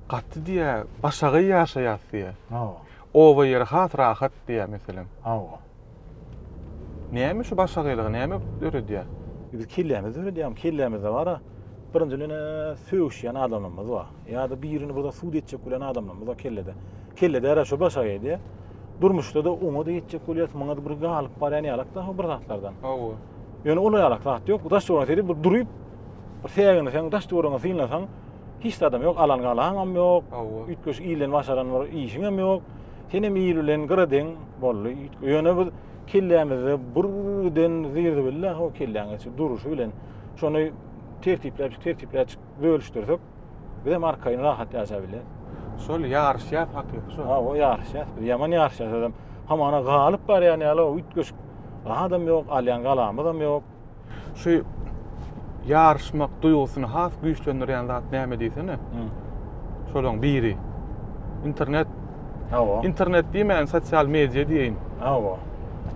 Gaty diýýä, başagaý ýaşaýas diýýä. Hawa. Oba ýeri has rahat diýýä meselem. Hawa. Näme şu başagaýlygy näme döredýär? Biz kellämizi döredýämi? Kellämizde bar-a, birinjiden sögüşýän adamlarymyz bar. Ýa-da birini bir zat sud etjek bolýan adamlarymyz bar kellede. Kellede ýara şu başagaý diýýä. Durmuşda-da oňa-da ýetjek bolýas, muňa-da bir galyp barýan ýalak dagy bir zatlardan. Hawa. Ýöne ol ýalak zat ýok. Daş ýola seredip bir durup, Bir säginseň, daş-töweregiňi synlasaň, hiç zadam ýok, alan galaňam ýok. Hawa. Üýtgeşik ilden başaran bir işiňem ýok. Senem il bilen gyra deň boldy. Ýöne biz kellämizde bir giden zir-zibille o kelläňe şu duruşy bilen şony tertipläpjik, tertipläpjik bölüşdirsek, bizem arkaýyn rahat ýaşap bileris. Şol ýaryşýas hakyky şol. Ha, o ýaryşýas. Biz ýaman ýaryşýas özem. Hamana galyp barýan ýaly o üýtgeşik zadam ýok, alýan galamyzam ýok. Şu ýaryşmak duýgusyny has güýçlendirýän zat näme diýsene? Şolaryň biri. Internet. Hawa. Internet diýmän, sosial media diýeýin. Hawa.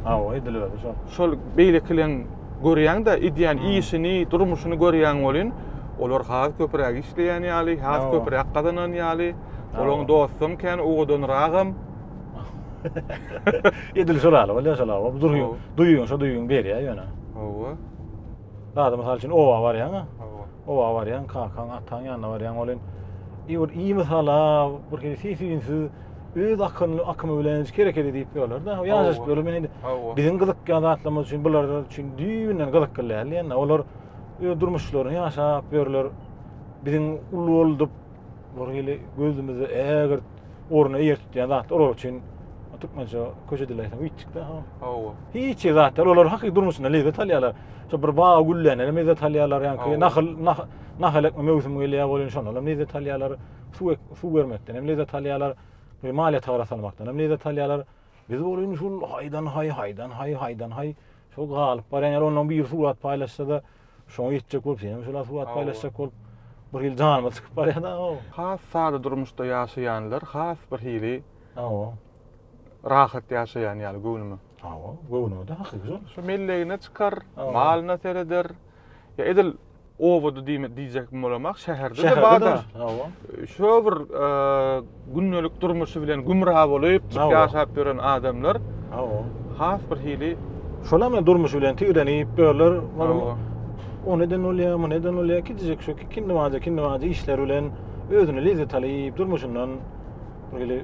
Hawa, edil özi şol. Şol beýlekileň görýäň-de, edýän işini, durmuşyny görýäň welin, olar has köpräk işleýän ýaly, has köpräk gazanan ýaly, olaryň dostam kän, owadanragam. Edil şol ýaly bolýar şol awa. Durýuň, Hawa. duýuň, şo duýuň berýär ýöne. Hawa. Bada mysal üçin oba barýaň, ha? Hawa. oba barýaň, kakaň, ataň ýanyna barýaň, ol hem i bir i mysala bir hili sesüýnsiz öz akynly akymy bilen hiç hereket edip ýörler-de. O ýaşaşyp Hawa. ýörler. Men indi Hawa. biziň gyzykýan zatlarymyz üçin bular üçin düýbünden gyzykly däl diýen-de. Olar öz durmuşlaryny ýaşap ýörler. Biziň uly boldup, Olar hili gözümizi ägirt orna eýer tutýan zatlar olar üçin türkmençe köşe dileýsen witçikde ha. Hawa. Hiç zatlar olar hakyky durmuşynda lezzet alýarlar. Şu bir baga güllände hem lezzet alýarlar ýa-ni nahyl nahyl ekme möwsümi gelýär bolýar şonda hem lezzet alýarlar. Suw suw bermekden hem lezzet alýarlar. Bir maliýe tagara salmakdan hem lezzet alýarlar. Biz bolsa indi şul haýdan haý haýdan haý haýdan haý şol galyp barýan ýaly ondan bir surat paýlaşsa-da Şoňa ýetjek bolup senem şolar surat paýlaşjak bolup bir hili janyma çykyp barýar da o. Has sada durmuşda ýaşaýanlar has bir hili Hawa. Rahat ýaşaýan ýaly göwnüme. Hawa, göwnüme de hakyky şol. Şu mellegine çykar, malyna sereder. Ýa edil obada diýjek bolamak şäherde de bar-da. Şäherde de bar, hawa. Şo bir gündelik durmuşy bilen gümra bolup ýaşap ýören adamlar has bir hili şolam hem durmuşy bilen tigrenip ýörler o neden bolýar bu neden bolýar gidijek şu kindi bada kindi bada işler bilen özüne lezzet alyp durmuşyndan böyle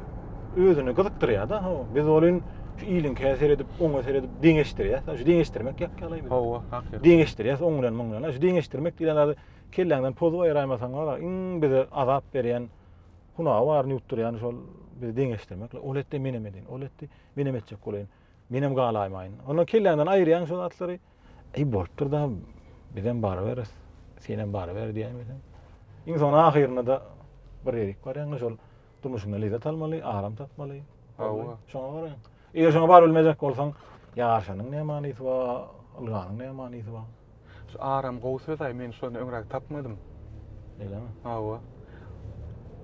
özüni gyzykdyrýar da biz bolin şu iliňkä seredip oňa seredip deňeşdirýär şu deňeşdirmek ýak ýaly hawa hakykat deňeşdirýär oň bilen muň bilen şu deňeşdirmek diýen zady kelläňden pozup aýraýmasaň wara iň bize azap berýän Hunagy baryny ýutdurýan şol bizi deňeşdirmekle. Ol etdi, menem edin. Ol etdi, menem etjek bolaýyn. Menem galaýmaýyn. Ondan kelläňden aýyrýaň şol atlary. Eý bolupdyr da, bizem baryberis. Senem baryber diýýän bizem. Iň soň ahyrynda da bir ýerik barýaňda şol durmuşyňdan lezzet almaly, aram tapmaly. Hawa. Şoňa garaýyň. Eger şoňa bar bilmejek bolsaň, ýaşanyň ne manysy bar, ylganyň ne manysy bar? Şu aram gowy söz-aý, men şony öňräk tapmadym. Beýlemi? Hawa.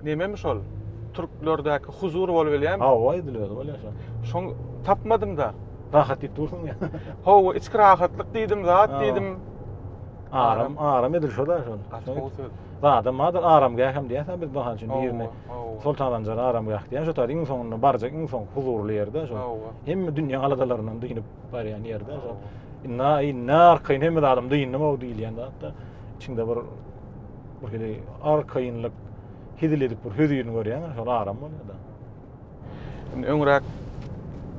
Nememi şol? Türklerdäki huzur bolup gelýärmi? Hawa, edil özi bolýar şol. Şoň tapmadym-da. Rahat diýip dursuň ýa. Hawa, içki rahatlyk diýdim, zat diýdim. Aram, aram edil şo-da şol. Gaty gowy söz. Zadam bardyr, aramgäh hem diýýäs-ä biz, mysal üçin, birine Soltananjar aramgäh diýen şo taýda iň soňunda barjak iň soňky huzurly ýerde şo. Hemme dünýä aladalaryndan dynyp barýan ýerde şo. Inna inna arkaýyn hemme adam dyndy mowdy diýilýän zatda içinde bir bir hili arkaýynlyk hizil edip bir hüzürini görýän şol aram bolýar-da. Indi öňräk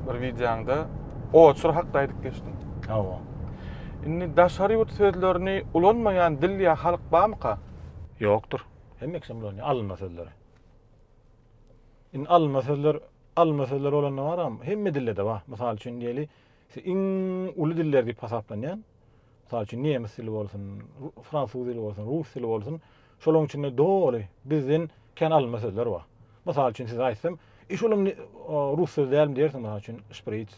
bir wideoňda oçur hakda aýdyp geçdiň. Hawa. Indi daşary ýurt sözlerini ulanmaýan dil ýa halk barmyka? Ýokdur. Hemme kişiden bulanýar alynma sözler. Indi alynma sözler, alynma sözler bolanda baram, hemme dilde-de bar. Mysal üçin diýeli, iň uly diller diýip hasaplanýan, mysal üçin nemes dili bolsun, fransuz dili bolsun, rus dili bolsun, şolaryň içinde doly bizden kän alynma sözler bar. Mysal üçin size aýtsam, e şolam rus sözi dälmi diýersiň, mysal üçin, şpriç,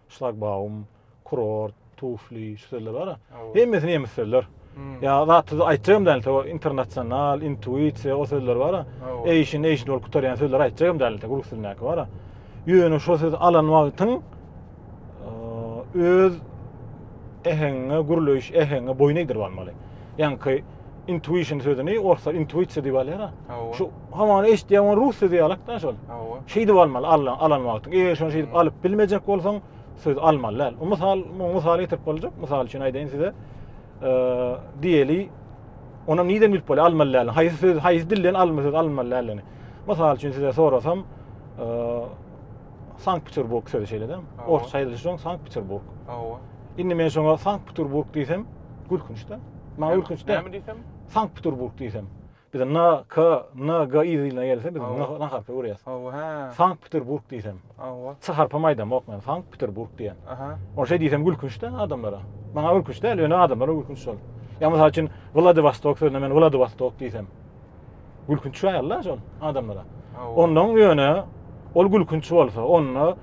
şlagbaum, kurort, tufli, şu sözler bar-a. Hemmesi nemes sözler. Hmm. Ya zat size aýtjagym däl, to internasional, intuisiýa, o sözler bar-a. Eýşin, eýşin bolup gutarýan sözler aýtjagym däl, to rus dilindäki bar-a. Ýöne şu söz alan wagtyň öz äheňiňe, gürleýiş äheňiňe boýun egdirip almaly. Ýaňky intuition sözüni orslar intuitsiýa diýip alýar. Şu hamany eşitýän rus sözi ýalak da şol. Şeýdip almaly, alan, alan wagtyň. Eger şonu şeýdip hmm. alyp bilmejek bolsaň, söz almaly däl. Mysal, mysal getirip boljak. Mysal üçin aýdaýyn size. Eee, diýeli, onam niden bilip bolýar almaly däl. Haýsy söz, haýsy dilden almaly söz almaly däl. Mysal üçin size sorasam, eee, Sankt Peterburg sözi şeýledem. Orsça aýdylyşy şoň Sankt Peterburg. Hawa. Indi men şoňa Sankt Peterburg diýsem, gülkünçde. Maňa gülkünçde. Näme diýsem? Sankt Peterburg diýsem. Biz N K N G i diline gelse biz N harpy görýäs. Hawa, hä. Sankt Peterburg diýsem. Hawa. S harpy aýdamok men. Sankt Peterburg diýen. Aha. Ol şeý diýsem gülkünçde adamlara. Maňa gülkünçde, ýöne adamlara gülkünç şol. Ýa mysal üçin Vladivostok sözüne men Vladivostok diýsem. Gülkünç çaýalda şol adamlara. Ondan ýöne ol gülkünç bolsa, onda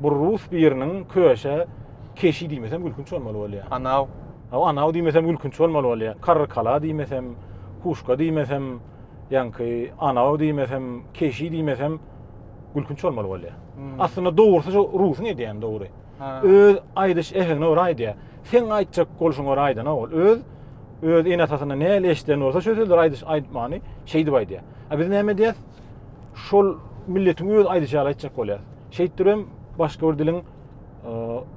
bu rus biriniň köşe keşi diýmesem gülkünç bolmaly bolýar. Anaw. Aw anaw diýmesem gülkünç bolmaly bolýar. Karrykala diýmesem, kuşka diýmesem, ýaňky anaw diýmesem, keşi diýmesem gülkünç bolmaly bolýar. Aslynda dogrusy şu rusuň edýäni dogry. Öz aýdyş äheňine görä aýdýar. Seň aýtjak bolşuňa görä aýdanok ol. Öz öz ene-atasyndan nähili eşiden bolsa şo sözleri aýdyş aýtmany şeýdip aýdýar. A biz näme edýäs? Şol milletiň öz aýdyşy ýaly aýtjak bolýar. Şeýtdir hem başga bir diliň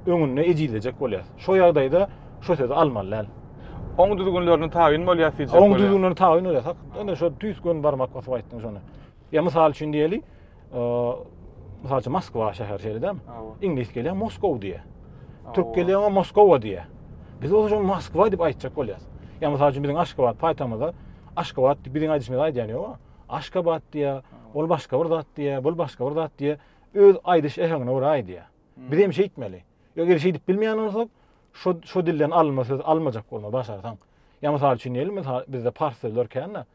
öňünde ejizlejek bolýar. Şo ýagdaýda şo sözi almaly däl. Oň düzgünlerine tabyn bolýas diýjek bolýar. Oň düzgünlerine tabyn bolýas. Hak, ine şo tüýs gün barmak basyp aýtdyň şony. Ýa mysal üçin diýeli, mysal üçin Moskwa şäher şeýledem. Iňlis gelýär Moskow diýýär. Türk gelýär oňa Moskowa diýýär. Biz bolsa şuny Moskwa diýip aýtjak bolýarys. Ýa mysal üçin biziň Aşgabat paýtagymyzda Aşgabat diýip biziň aýdyşymyzy aýdýan ýok. Aşgabat diýýär, ol başga bir zat diýýär, bul başga bir zat diýýär. Öz aýdyş äheňine görä aýdýar. Biz hem şeýtmeli. Ýa eger şeýdip bilmeýän bolsak, şu şu dilden alma söz almajak bolmaly başarsaň. Ýa mysal üçin diýeli, bizde pars sözler kän-de.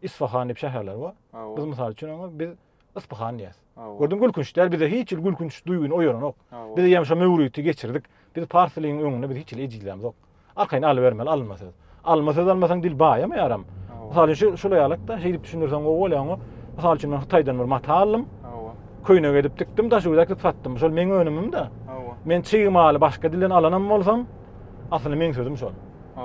Isfahan diýip şäherler bar. Biz mysal üçin oňa biz Isfahan diýýäs. Gördüň gülkünç däl bize hiç il gülkünç duýgyny oýaranok. Biz ýa şo möwriti geçirdik. Biz pars diliň öňünde biz hiç il ejizlämzok. Arkaýyn aly bermeli alma söz. Alma söz almasaň dil baýamaýaram. Mysal üçin şu şuly ýalykda şeýdip düşündirseň gowy bolýar oňa. Mysal üçin men Hytaýdan bir mata aldym. Köýne gedip dikdim, daşy güzek dip satdym. Şol meň önümim-de. Men çig maly başga dilden alanam bolsam, asly meň sözüm şol.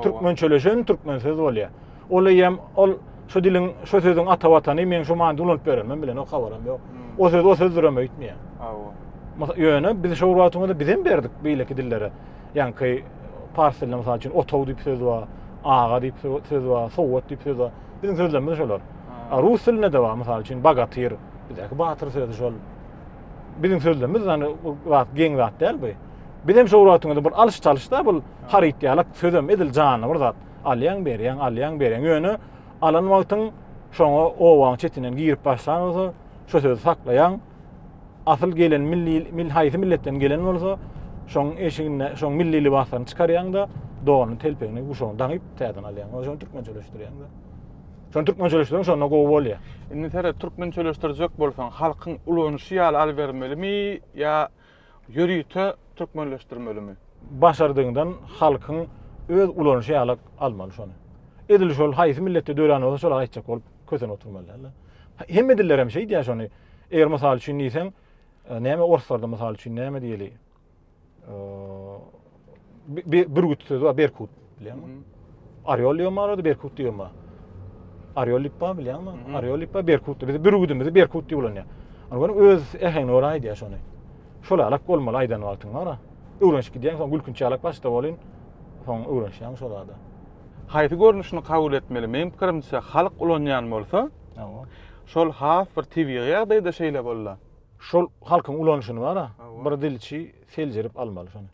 Türkmen çöleşen türkmen söz bolýar. Ol eýýäm ol şu diliň, şu sözüň ata watany, meň şu manyda ulanyp ýörenmem bilenok, habarym ýok. Hmm. O söz, o sözdürem öýtmeýär. Hawa. Mysal, ýöne biz şu wagtymyzda bizem berdik beýleki dillere. Ýaňky pars dilinde mysal üçin otaw diýip söz bar, aga diýip söz bar, sowat diýip söz bar. Biziň sözlerimiz şolar. A rus dilinde de bar, mysal üçin bagatyr, bizdäki batyr sözi şol. Biziň sözlerimiz ýany bu zat geň zat däl bu. Bizem şu wagtymyzda bir alyş-çalyş da bu haryt ýalak sözem edil janly bir zat. Alýaň, berýäň, alýaň, berýäň. Ýöne alan wagtyň şoňa obaň çetinden girip başlan bolsa, şo sözi saklaýaň. Asyl gelen milli mil haýsy milletden gelen bolsa, şoň eşiginde şoň milli lybaslaryny çykarýaň-da, donuny, telpegini, guşagyny daňyp täzeden alýaň. Oýa şony türkmençeleşdirýäň-de. Şony türkmençeleşdirýäň, şonda gowy bolýar. Indi seret, türkmençeleşdirjek bolsaň, halkyň ulanyşy ýaly alybermelimi ýa Ýörite türkmenleşdirmelimi? Başardygyňdan halkyň öz ulanyşy ýaly almaly şony. Edil şol haýsy milletde dörän bolsa şolar aýtjak bolup kösen oturmaly däldir. Hemme dillerem şeýdýär şony. Eger mysal üçin diýseň, e, näme orslarda mysal üçin näme diýeli? E, bürgüt sözi bar berkut bileňmi orýol diýen barada berkut diýen bar orýol diýip bar bileňmi orýol diýip bar berkut biz bürgüdimizi berkut diýip ulanýar ony görüň öz äheňine görä aýdýar şony şol alak bolmaly aýdan wagtyň bara öwrenişip gidýäň soň gülkünç alak başda bolýn soň öwrenişýäň şol zada haýsy görnüşini kabul etmeli meň pikirimçe halk ulanýan bolsa şol has bir tebigy ýagdaýda şeýle bolda şol halkyň ulanyşyny bara bir dilçi Seljerip almaly şony.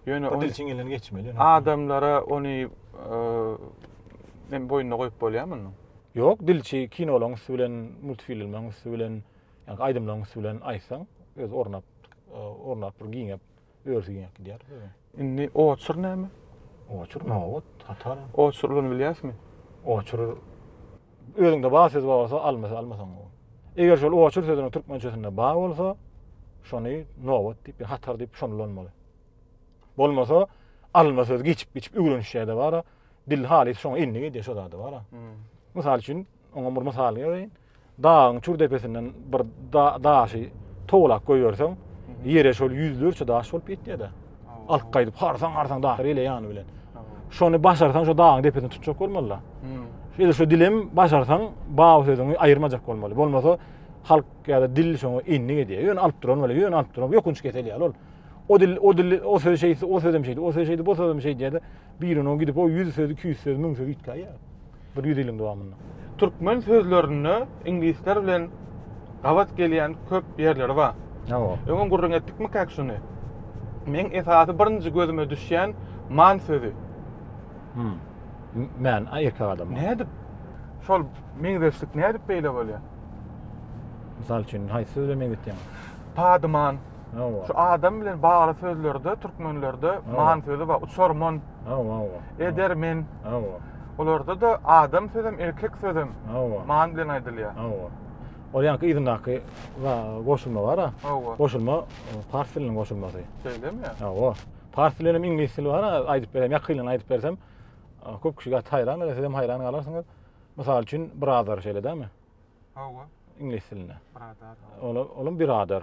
Ýöne ony dilçiň elinden geçmeli. Adamlara ony men boýnuna goýup bolýar muny. Ýok, dilçi kinolaryň üsti bilen, multfilmleriň üsti bilen, ýa-da aýdymlaryň üsti bilen aýtsaň, öz ornap, ornap bir giňäp, örüsi giňäp gidýär. Indi oçur näme? Oçur, nobat, hatar. Oçur ulyny bilýäsmi? Oçur Özüňde ba söz ba bolsa, alma söz alma soň. Eger şol oçur sözüniň türkmençesinde ba bolsa, şony nobat diýip, hatar diýip şony ulanmaly. Bolmasa, alma söz geçip geçip öwrenişýärde bara, dil haly şoňa indi gidýär şo zada bara. Hmm. Mysal üçin, oňa bir mysal berýin. Dagyň çür depesinden bir daşy towlak goýberseň, hmm. ýere şol ýüzlerçe daş bolup ýetýär-de. Alyp gaýdyp harsaň harsaň dahyr ile ýany bilen. Şony başarsaň şu dagyň depesini tutjak bolmaly. Hmm. Şeýle şu dilem başarsaň baba sözüňi aýyrmajak bolmaly. Bolmasa halk ýa-da dil şoňa indik edýär. Ýöne alyp duran bolýar, ýöne alyp duran. Ýokunç kesel ýaly ol. O dil, o dil, o söz şeýdi, o sözem şeýdi, o söz şeýdi, bu sözem şeýdi ýa-da biriniň gidip o 100 söz, 200 söz, 1000 söz ýitgäýýär. bir ýüz ýylyň dowamynda. Türkmen sözlerinde iňlisler bilen gabat gelýän köp ýerleri bar. Hawa. Öňem gürrüň etdikmikäk şuny? Meň esasy birinji gözüme düşýän man sözi. Hum. Man a erkek adama. Nädip? Şol meňzeşlik nädip beýle bolýar? Mysal üçin, haýsy söz bilen meňzetýäňiz? Padyman. Hawa. Şu adam bilen bagly sözlerde türkmenlerde man sözi bar. Uçarman. Hawa, hawa. Edermen. Hawa. Olarda da adam sözem, erkek sözem. Hawa. Man bilen aýdylýar. Hawa. Ol ýaňky yzyndaky goşulma bar-a. Hawa. Goşulma pars diliniň goşulmasy. Şeýlemi? Hawa. Pars dili hem iňlis dili bar-a, aýdyp berem, ýakynlaryna aýdyp bersem, köp kişi gat haýran galar, siz hem haýran galarsyňyz. Mysal üçin, birader şeýle dämi? Hawa. Iňlis dilinde. Birader. Olam birader.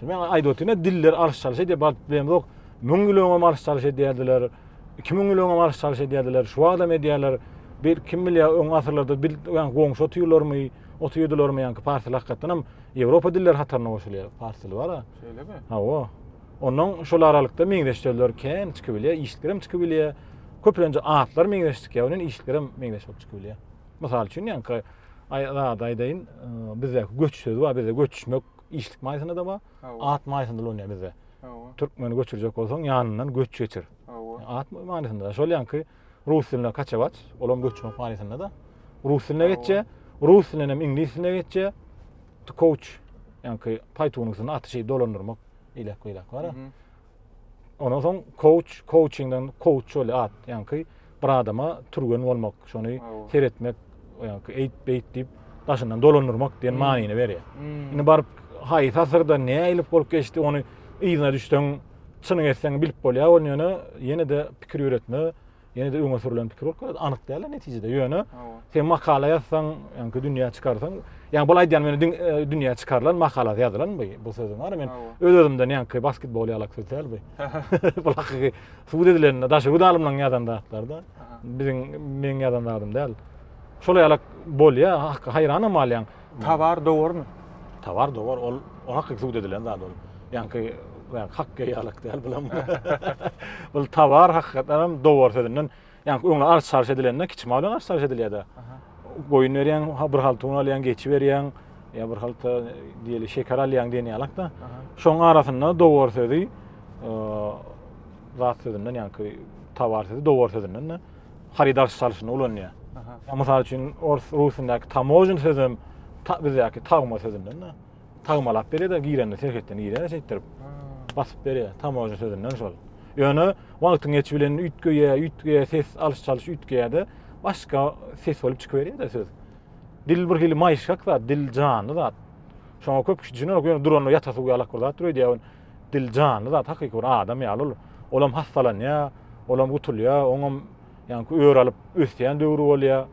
Şonda men aýdyp otyryn, diller alyş-çalyş edýär, bagt bilemzok. Müň ýyl öňem alyş-çalyş edýärdiler, iki müň ýyl öňem alyş-çalyş edýärdiler, şu wagtam edýärler. Bir kim bilýär, öň asyrlarda bil, ýaňky goňşy otyrdyrlarmy, otyrdylarmy, ýaňky pars dili hakykatdanam Ýewropa dilleri hataryna goşulýar, pars dili bar-a. Şeýlemi? Hawa. Ondan şol aralykda meňzeş sözler kän çykyp bilýär, işliklerem çykyp bilýär. Köplenç atlar meňzeş çykýar, onuň işliklerem meňzeş bolup çykyp bilýär. Mysal üçin, ýaňky aý, zat aýdaýyn, bizdäki göç sözi bar, bizde göçmek, işlik maýysyna da bar. At maýysyna da bizde. Türkmeni göçürjek bolsaň, ýanyndan göç geçir. At maýysyna da. Şol ýanky rus dilinde kaçawaç, olam göçmek maýysyna da. Rus diline geçje, rus dilinden hem iňlis diline geçje. To coach, ýanky paýtunyň üstünde aty şeýip dolandyrmak, ilek-ilek bar. Ondan soň kouç, kouçingden kouç bolýar at. Ýaňky bir adama türgen bolmak, şony seretmek, ýaňky eýt beýt diýip daşyndan dolandyrmak diýen hmm. manyny berýär. Hmm. Indi baryp haýsy asyrda näilip bolup geçdi, ony yzyna düşseň, çynyň etseň bilip bolýar, ol ýöne ýene-de pikir ýöretme, Ýene-de öňe sürlen pikir bolup gelýär. Anyk däl-de netijede. Ýöne sen makala ýazsaň, ýaňky dünýä çykarsaň, ýaňky bol aýdýan meni e, dünýä çykarylan makala ýazylan bu. Bu sözüň bar men öz-özümden ýaňky basketbol ýalak söz däl bu. Bu hakyky subut edilende daşy hut alymlaryň ýazan zatlarda. Biziň meň ýazan zatym däl. Şol ýalak bolýar, haýran hem alýaň. Tawar dowarmy? Tawar dowar ol oňa subut edilen zat ol. Ýaňky ýa hak geýalyk däl bulam. Ol tawar hakykatdan hem dowar sözünden ýaňky öňe arz çarş edilende kiçi mal bilen arz çarş edilýärdi. Goýun berýän, bir halta un alýan, geçi berýän, ýa bir halta diýeli şeker alýan diýen ýalykda. Şoň arasynda dowar sözi zat sözünden ýaňky tawar sözi dowar sözünden. haryt alyş çalyşynda ulanýar. Mysal üçin, ors rusundaki tamožin sözem bizdäki tagma sözünden de. Tagmalap berýär-de, girende serhetden girýär şeýtdirip. Basyp berýär tamožin sözünden şol. Ýöne wagtyň geçi bilen üýtgeýär, üýtgeýär ses alyş çalyş üýtgeýär-de, başga ses bolup çykyberýär-de söz. Dil bir hili maýyşgak zat, dil janly zat. Şoňa köp kişi düşünerok, ýöne duranda ýatasy uýalak bir zatdyr öýdýär. Dil janly zat, hakyky bir adam ýaly ol. Olam hassalanýar, olam gutulýar, oňam ýaňky ör alyp ösýän döwri bolýar.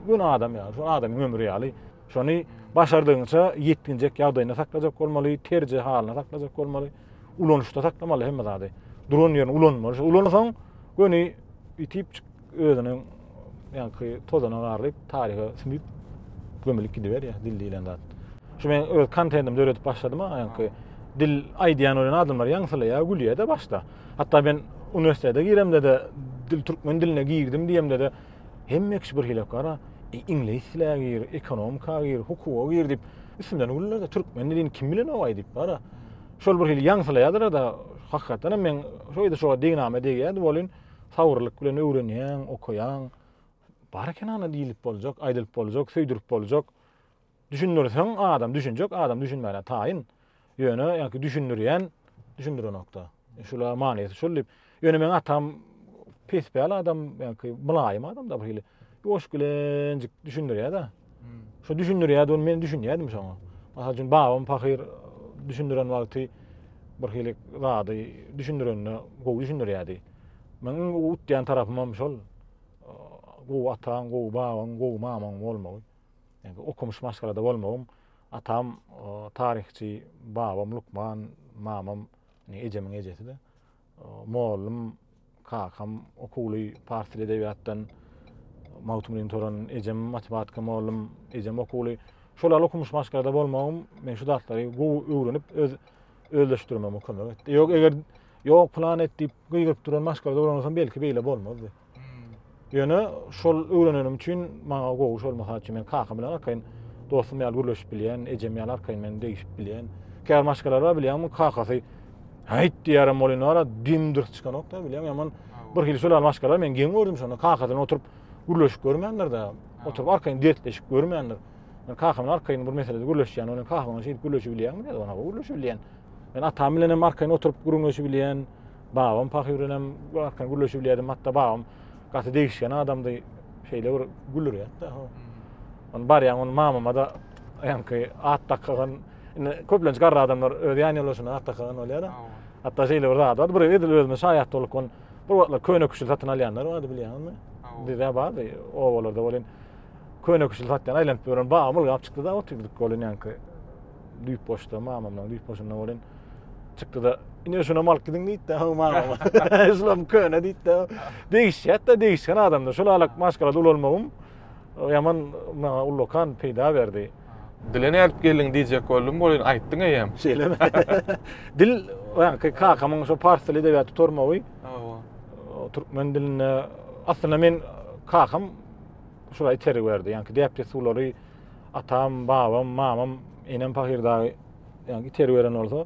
Gün adam ýaly, şol adamyň ömri ýaly. Şony başardygyňça ýetginjek ýagdaýynda saklajak bolmaly, terje halyna saklajak bolmaly. Ulanyşda saklamaly hemme zady. Duran ýerinde ulanmaly. Şo ulansaň göni ýitip Özüniň ýaňky tozana garlyp, taryha sümüp gömülip gidiberýär dil diýlen zat. Şu men öz kontentimi döredip başladym-a, ýaňky dil aýdýan bolan adamlar ýaňsylaýar, gülýär-de başda. Hatda men uniwersitete giremde-de dil türkmen diline girdim diýemde-de hemme kişi bir hili bakar-a, iňlis dile gir, ekonomika gir, hukuga gir diýip, üstümden güller-de, türkmen dilini kim bilenogaý diýip bar-a. Şol bir hili ýaňsylaýarlar-da, hakykatdan hem men şo ýerde şoňa degnama degýärdi welin, Sabyrlyk bilen öwrenýäň, okaýaň. Bar eken ana diýlip boljak, aýdylyp boljak, söýdürip boljak. Düşündirseň adam düşünjek, adam düşünmäne taýyn. Ýöne ýa-ki düşündirýän, düşündirenokda. Şula manysy şul diýip. Ýöne meň atam pespäl adam, ýa-ki mylaýym adam-da birhili. Ýuwaş gelenjik düşündirýär-de. Şu düşündirýärdigini men düşünýärdim şoňa. Mysal üçin babam pahyr düşündiren wagty bir hili zady düşündirende gowy düşündirýärdi. Meniň utýan tarapym hem şol gowy ataň, gowy babaň, gowy mamaň bolmagy. Yani okumuş maşgalada bolmagym. Atam taryhçy, babam lukman, mamam ejemiň ejesi-de. Mugallym Kakam okuwly pars dili edebiýatdan Magtymgulyny tören, ejem matematika mollum, ejem okuwly. Şol al okumyş maşgalada bolmagym men şu zatlary gowy öwrenip öz özleşdirmegime kömek etdi. Ýok eger ýok plan et diýip gygyryp duran maşgalada bolan bolsam belki beýle bolmazdy. Ýöne şol öwrenenim üçin maňa gowy şol mysal üçin men kakam bilen arkaýyn dostum ýaly gürleşip bilýän, ejem ýaly arkaýyn men degişip bilýän. Käbir maşgalar bar bilýän, bu kakasy Häýt diýýärem bolýan wara dim dyrs çykanok da bilýän, ýaman bir hili şol maşgalar men geň gördüm şonda kakasy bilen oturyp gürleşip görmändir da, oturyp arkaýyn dertleşip görmändir. Men kakam bilen arkaýyn bir meselede gürleşýän, ony kakam bilen şeýdip gürleşip bilýän, men ony gürleşip bilýän. Men atam bilen hem arkaýyn oturyp gürleşip bilýän. Babam pahyr bilenem arkan gürleşip bilýärdim. Hatda babam gaty degişgen adamdy. Şeýle bir gülürýärdi-de. Hmm. Onu barýan onu mamama da ýanky at dakagan indi köplenç garry adamlar öz ýan ýoldaşyna at dakagan bolýar-da. Hatda şeýle bir zat bar. Bir edil özüme şaýat bolup on bir wagtlar köne küşül satyn alýanlar bardy bilýäňizmi? Bizde bardy obalarda bolýan. Köne küşül satýan aýlanyp ýören babam ylgap çykdy-da otyrdyk bolýan ýanky. düýp boşda mamamdan düýp boşunda bolin çykdy da ine şuna mal gidin diýdi de mamam şulam köne diýdi de degişýät da degişgen adamda şul alak maşgala dolanmagym ýaman maňa ullakan peýda berdi dile nädip geldiň diýjek boldum bolin aýtdyň eýem şeýlemi dil ýaňky kakamyň şu pars dili edebiýat tutarmagy türkmen dilinde aslynda men kakam şular itergi berdi ýaňky däp dessurlary Atam, babam, mamam, enem pahyr dagy ýa-ni itergi beren bolsa,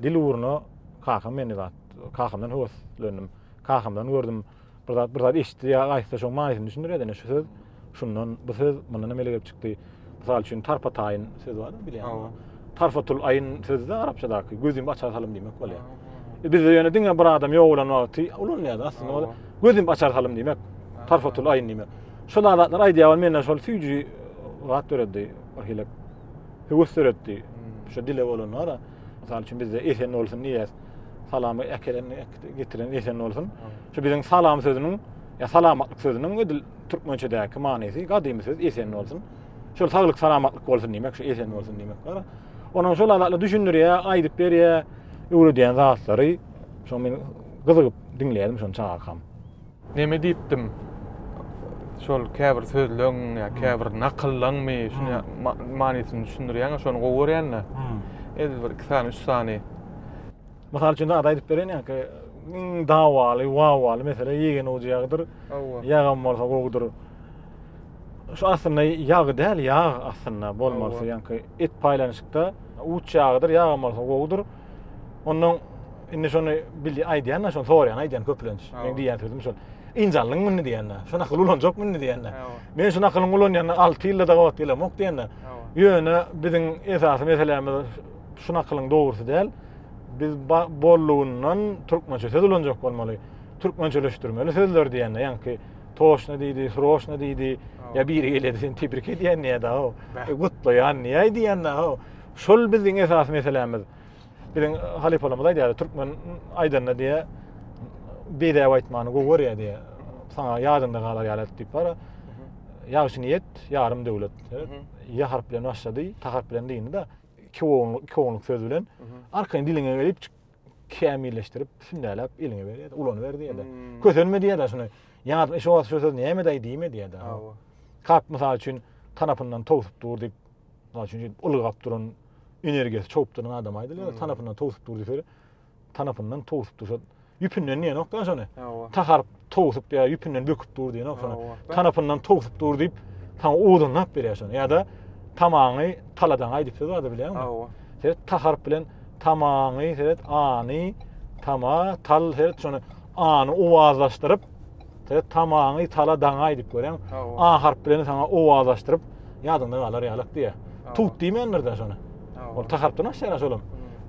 dil ugruna kakam meni zat, kakamdan höweslendim. Kakamdan gördüm, bir zat, bir zat eşitdi ýa aýtsa şoň manysyny düşündirýärdi. Ine şu söz şundan, bu söz mundan emele gelip çykdy. Mysal üçin tarpataýyn söz bar, bilýärmi? Tarfatul aýyn sözi-de arapçadaky gözümi açar salym diýmek bolýar. Bizde ýöne diňe bir adam ýok bolan wagty ulanylýar. Aslynda ol gözümi açar salym diýmek. Tarfatul aýyn diýmek. Şol adatlar aýdýar ol mende şol süýji zat döretdi. Bir hili höwes döretdi. Hmm. Şu dile bolanlara. Mysal üçin bizde esen bolsun diýýär. Salamy äkelen getiren esen bolsun. Şu biziň salam sözüniň ya salamatlyk sözüniň edil türkmençedäki manysy gadymy söz esen bolsun. Şol saglyk salamatlyk bolsun diýmek, şu esen bolsun diýmek bar. Onuň şol adatla düşündirýär, aýdyp berýär, öwredýän zatlary. Şoň men gyzygyp diňleýärdim şony çagakam. Neme diýipdim? Şol käbir sözleň ýa käbir nakyllanmy şuny manysyny düşündirýäňä şony gowy görýänle. Edil bir iki sany, üç sany. Mysal üçin ada aýdyp bereýin ýaňky iň dawaly, wawaly mesele ýegen ujy ýagdyr. Ýagam bolsa gowudyr. Şu aslynda ýag däl, ýag aslynda bolmalysy, ýaňky et paýlanyşykda uç ýagydyr, ýag bolsa gowudyr. Ondan indi şony bildi aýdýan da, şony sorýan aýdýan köplenç. Men diýýän sözüm şol. Injallyň muny diýende, şu nakyl ulanjak muny diýende. Men şu nakylyň ulanýanda 6 ýylda da wagt gelemok diýende. Ýöne biziň esasy meselämiz şu nakylyň dogrusy däl. Biz bollugyndan türkmençe söz ulanjak bolmaly. Türkmençeleşdirmeli sözler diýende, ýaňky Toşna diýdi, Hroşna diýdi. Ya biri gelýärdi, seni tebrik edýän diýýärdi, o. E, gutlaýan diýýär diýende, o. Şol biziň esasy meselämiz. Biziň halypalarymyz aýdýardy, türkmen aýdanda diýýär, bedäw aýtmany gowy görýär diýýär. Saňa ýadyňda galar ýaly aýt diýip bar. Ýagşy niýet, ýarym döwlet. Ýa harp bilen başlady, ta harp bilen dyndy-da, iki oňluk, iki oňluk söz bilen. Arkaýyn diliňe gelip kämilleşdirip, sünnäläp eliňe berýär, ulanyber diýýär. Hmm. Kösenme diýýär şuny. Ýaňatma şu wagt şu söz näme daýy diýme diýýär. Hawa. Kap mysal üçin tanapyndan towsup dur diýip, mysal üçin ylgap duran energiýasy çowup duran adam aýdylýar, hmm. tanapyndan towsup dur diýip, tanapyndan towsup dursa, ýüpünden diýen ýok da şony. Hawa. Taharyp towsup ýa ýüpünden böküp dur diýen oňsana. Tanapyndan towsup dur diýip, saňa uzunlap berýär şony. Ýa-da tamaňy taladan aýdyp söz bardy bilýäňmi? Hawa. Sen taharp bilen tamaňy, sen any, tama, tal, sen şony any owazlaşdyryp, sen tamaňy taladan aýdyp görýäň. A harp bilen saňa owazlaşdyryp, ýadyňda galar ýalak diýär. Tut diýmändir de şony. Ol taharpdan aşýar şolam.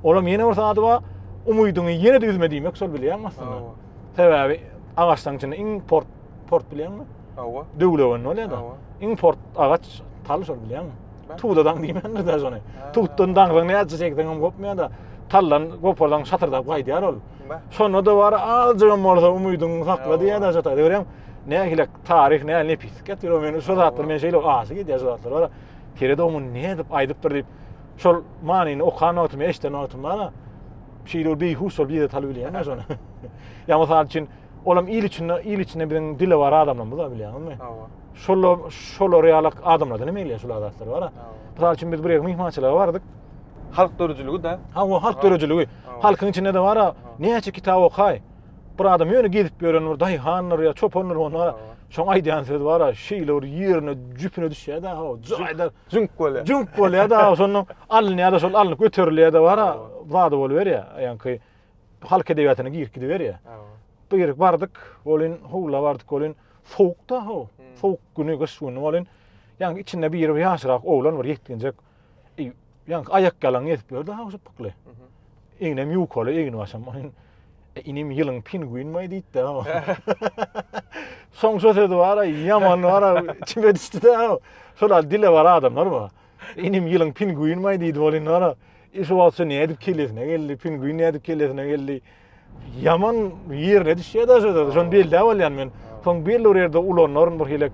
Olam ýene bir sady bar. Umydyňy ýene-de üzme diýmek şol bilýäňmi aslynda? Sebäbi agaçlaryň içinde iň port port bilýäňmi? Hawa. Döwlegenli bolýar da. Iň port agaç tal şol bilýäňmi? Tudadan diýmändir de şony. Tutdan daňryň näçe çekseň hem gopmaýar da. Tallan gopardan şatyrdap gaýdýar ol. Şonda da bar azjyk hem bolsa umydyňy sakla diýýär da şata. Görýäň, nähili taryh, nähili nepis. Getir o meni şu zatlar men şeýle aşy gidýär şu zatlar bar. Tire dogman nädip aýdypdyr diýip. Şol manyny okan wagtym, eşden wagtym bar. Şeýle ol beýhuş bolup ýere salyp bilýärmi şony? Ýa mysal üçin, olam il içinde, il içinde biziň dilewar adamlarymyz-a bilýäňizmi? Hawa. Şolar, şolar ýaly adamlardan hem gelýär şular zatlar bar-a. Mysal üçin biz bir ýere myhmançylyga bardyk. Halk döredijiligi-de. Hawa, halk döredijiligi. Halkyň içinde-de bar-a, näçe kitap okaý. Bir adam ýöne gezip ýören bir daýhandyr ýa çopandyr onda şoň aýdýan sözi bar-a, şeýle bir ýerine, jüpüne düşýär-de, hawa, jaýda. Jüňk bolýar. Jüňk bolýar-da, şondan alynýar-da, şol alnyp göterilýär-de bar-a, zady boluberýär. Aýanky halk edebiýatyna girip gidiberýär. Girip bardyk, welin howla bardyk, welin sowuk-da how, sowuk güni, gyş güni welin, ýaňky içinde biri bir ýaşrak oglan, bir ýetginjek, ýaňky aýakýalaň gezip ýör-de, how şypbykly. Egnem ýukaly, egnibaşym. E, inim ýylyň pingwinmaý diýipdi. Soň şo sözi bar-a, ýaman bar-a, çime düşdi-de. Şolar dile bar adamlar bu. Inim ýylyň pingwinmaý diýdi ol indi bar-a. E, şu wagt şu nädip kellesine geldi, pingwin nädip kellesine geldi. Ýaman ýerine düşýär daşy da, şony belläp alýan men. Soň belli bir ýerde ulanaryn bir hilek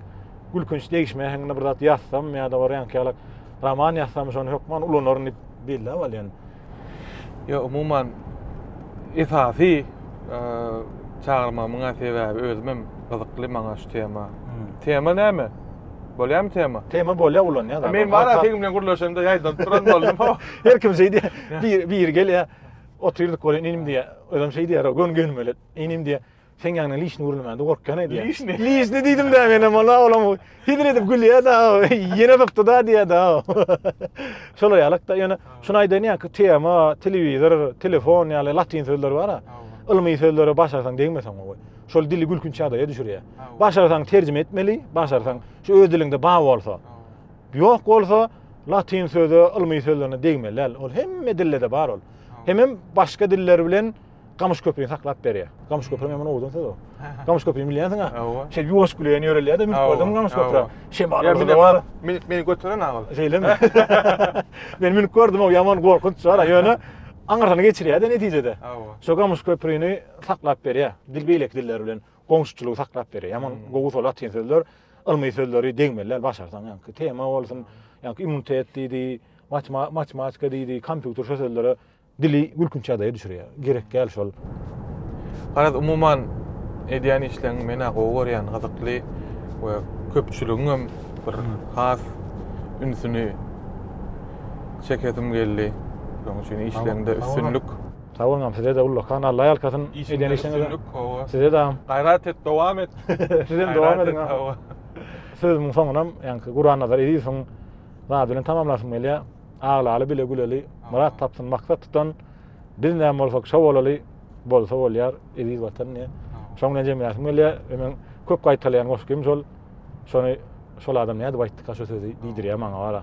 gülkünç degişme äheňinde bir zat ýazsam ýa-da bir ýankyýalak roman ýazsam şony hökman ulanaryn diýip belläp alýan. Ýa umuman esasy çagyrmamyň sebäbi özüm hem gyzykly maňa şu tema. Hmm. Tema näme? Bolýarmy tema? Tema bolýar ulanýar. Men bar seň bilen gürleşende ýaýdan turan boldum. Her kim şeý diýýär. Bir bir gelýär. Otyrdyk bolýar inim diýýär. Özüm şeý diýýär, gön gönmelet. Inim diýýär. Sen ýaňyna liçni gürlemände gorkýan edýär. Liçni. Liçni diýdim de menem ola olam. Hezil edip gülýär da. Ýene sypdy da diýär da. Şol ýalyk da ýöne şuny aýdaýyn ýa tema, telewizor, telefon ýaly latyn sözleri bar-a. Ylmy sözleri başarsaň degmeseň gowy. Şol dili gülkünç ýagdaýa düşürýär. Başarsaň terjime etmeli, başarsaň şu öz diliňde bar bolsa. Ýok bolsa latyn sözi, ylmy sözlerine degmeli däl. Ol hemme dilde-de bar ol. Hemem başga diller bilen Gamyş köpüni saklap berýär. Gamyş köpüň hemen owdan söz o. Gamyş köpüni bilýänsiň ha? Şe ýuwaş güleýän ýörelýär de, mülk gördüm gamyş köpüre. Şe bar. Meni bar. Meni meni götüren agal. Şeýlemi? Men mülk gördüm o ýaman gorkunç bar. Ýöne aňyrsyny geçirýär de netijede. Şo gamyş köpüni saklap berýär. Dil beýleki diller bilen goňşuçylygy saklap berýär. Ýaman gowy solat latyn sözler, ylmy sözleri degmeliler başarsaň. Ýaňky tema bolsun, ýaňky immunitet diýdi, matematika diýdi, kompýuter şo sözlere Dili gülkünç ýagdaýa düşürýär. Gerek däl şol. Garaz umuman edýän işleň menä gowy görýän gyzykly we köpçüligiňem bir has ünsüni çekesim geldi. Şoň üçin işleňde üstünlik. Sag boluň agam sizede ullakan Alla ýalkasyn edýän işleňize. Sizede agam. Gaýrat et dowam et. Sizem dowam ediň agam. Sözümiň soňunam ýaňky Gurannazar Ezizowyň zady bilen tamamlasym gelýär. Aglaly bile güleli, myrat tapsyn maksat tutan, biz näme bolsak şo bolaly, bolsa bolýar, eziz Watan diýýär. Şoň bilen jemläsim gelýär we meň köp gaýtalaýan goşgym şol. Şony şol adam nädip aýtdyka şo sözi diýdirýär maňa wara.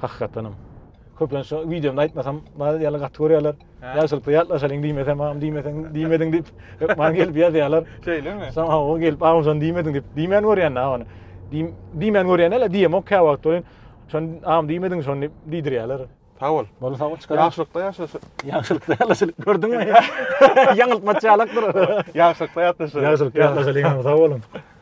Hakykatdanam. Köplenç şo wideomda aýtmasam, maňa diýýärler gaty görýärler. Ýagşylykly ýatlaşalyň diýmesem, agam diýmeseň, diýmediň diýip, hep maňa gelip ýazýarlar. Şeýlemi? Soň hawa gelip agam şony diýmediň diýip, diýmän görýän-dä ony. Diýmän görýän däl-de, diýemok käwagt welin, Şony am diýmediň şony diýip diýdirýärler. Sag bol. Bol sag bol çykaryň. Ýagşylykda ýaşa. Ýagşylykda ýaşa. Gördüňmi? Ýaňyltma çalakdyr. Ýagşylykda ýatlaşalyň. Ýagşylykda ýatlaşalyň. Sag boluň.